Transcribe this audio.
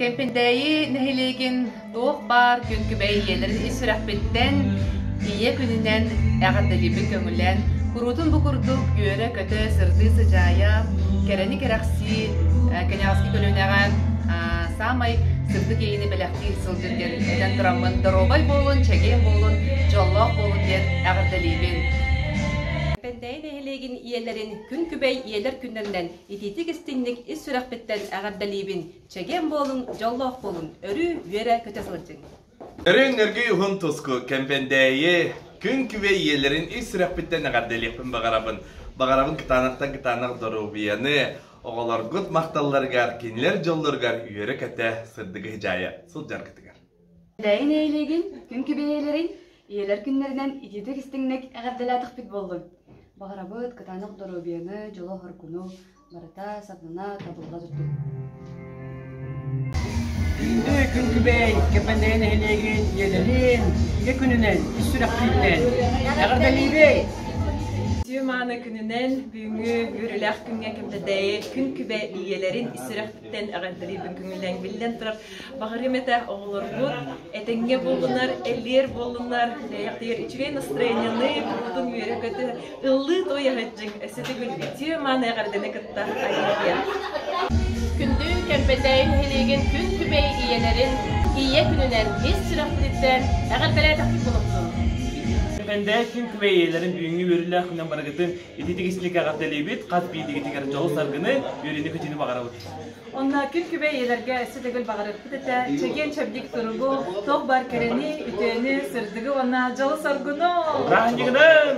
Кэмпиндээйи нэһилиэгин туох баар күҥкүбэй ийэлэр ис сүрэхпиттэн ийэ күнүнэн эҕэрдэлиибин көҥүлээн куруутун бу курдук үөрэ-көтө сырдыы сыдьаайа кэрэни кэрэхсии кэньаҕаски көлүөнэҕэ саамай сырдык иэйиини бэлэхтии сылдьын кэнниттэн тураммын доруобай буолун чэгиэн буолун дьоллоох буолун диэн эҕэрдэлиибин нэһилиэгин ийэлэрин күн күбэй ийэлэр күннэринэн итиитик-истиҥник ис сүрэхпиттэн эҕэрдэлиибин, чэгиэн буолуҥ, дьоллоох буолун, өрүү үөрэ-көтө сылдьыҥ! Өрүөн Өргүй уһун туску, кэмпэндээйи, күн күбэй ийэлэрин ис сүрэхпиттэн эҕэрдэлиэхпин баҕарабын. Баҕарабын кытаанахтан кытаанах доруобуйаны, оҕолоргут махталларыгар, кинилэр дьоллоругар үөрэ-көтө, сырдыгы дьаайа сылдьаргытыгар. Эбээйи нэһилиэгин күнкү бэйэлэрин ийэлэр күннэринэн итиитик истиҥник эҕэрдэлээтихпит буоллун. Баҕарабыт кытаанах доруобуйаны, дьолу-хоргуну барыта сатана табылла турдун. Күҥкүбэй Кэпэндэйэ нэһилиэгин ийэлэрин ийэ күнүнэн ис сүрэхтииллэн эҕэрдэлиибэй! Түө-мааны күнүнэн бүгүҥҥү үөрүүлээх күҥҥэ Кэмпэтэйи күн-күбэ ийэлэрин ис сүрэхтиттэн эҕэрдэлиибин күҥүллэн биллэн турар Баҕарыам этэ оҕолоргут этэҥҥэ буоллунар, эллиэр буоллунар, тиһэйэхтигэр үчүгэй настроениены, куруутун үөрэ-көтө, ыллыы той аһыддьыҥ, өссө төгүлгүтүө мааны эҕэрдэни кытта айылгыйа. Күндү кэлбэтэй нэһилиэгин күн күбэй ийэлэрин ийэ күнүнэн ис сүрэхпититтэн эҕэрдэлээтэхпит буолумсун. Бэндээ күн күбэй ийэлэрин бүгүҥҥү үөрүүлээх күнүнэн барыгытын ититик истинник эҕэрдэлиибит, хас биирдигитигэр дьолу-саргыны, үөрүүнү-көтүүнү баҕарабыт. Онно күн-күбэй ийэлэргэ өссө төгүл баҕарыахпыт этэ чэгиэн-чэбдик туругу, туох баар кэрэни, үтүөнү, сырдыгы уонна дьолу-соргуну! Бырааһынньыгынан!